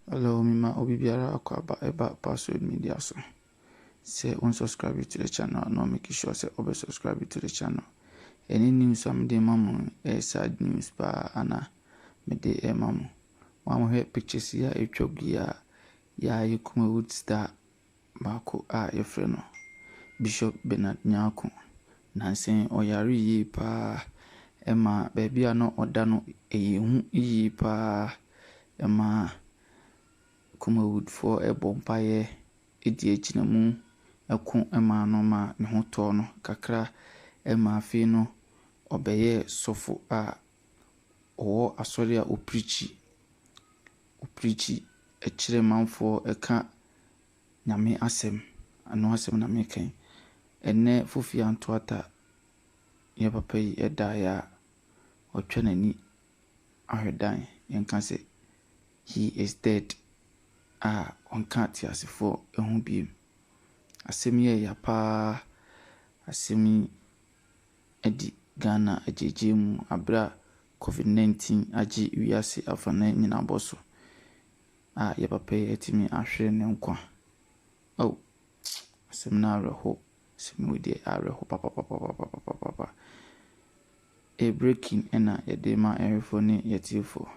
Hello mema obi biara akwaaba ɛba password media so sɛ wo unsubscribe to the channel a na make sure sɛ ɔbɛ subscribe to the channel ɛne news a mede ma mo ɛyɛ sad news paa ana mede ɛma mo wɔn hwɛ pictures yi a ɛtwa gu yi a yɛayɛ kumawood star baako a wɔfrɛ no Bishop Bernard Nyarko. Nansa yi ɔyaree yie pa ara. Ɛma baabi a na ɔda no, ɛyɛ hu yie pa ara. Ɛma Kumawoodfoɔ bɔ mpaeɛ de agyina mu ko maa no ma ne ho tɔɔ no kakra. Ɛma afei no, ɔbɛyɛɛ sɔfo a ɔwɔ asɔre a ɔpreakyi. ɔpreakyi kyerɛ manfoɔ ka Nyame asɛm, ɛno asɛm na meka yi. Ɛnnɛ Fofi Antoata yɛn papa yi daeɛ a, watwa n'ani ahwɛ dan, yɛnka sɛ he is dead a ɔnka ateasefoɔ ho bio. Asɛm yi yɛ ya paa, asɛm yi. adi Ghana agyegyeɛ mu aberɛ a Covid 19 agye wiase afanan nyinaa bɔ so a yɛ papa yi atumi ahwere ne nkwa oh asɛm no awerɛho asɛm wei deɛ awerɛho papapapapapapa e breaking ɛna yɛde ma ɛhwefo ne yɛtiefo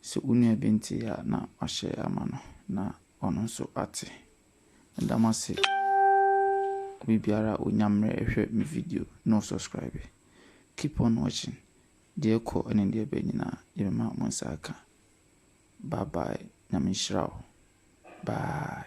sɛ wo nua bi nte a na wahyɛ ama no na ɔno nso ate. Meda mo ase. Obi biara a ɔnya mmerɛ ɛhwɛ me video na ɔsɔskraibe. Keep on watching. Deɛ ɛkɔ ne deɛ ɛba nyinaa yɛbɛma mo nsa aka. Bye bye. Nyame nhyira wo. Bye.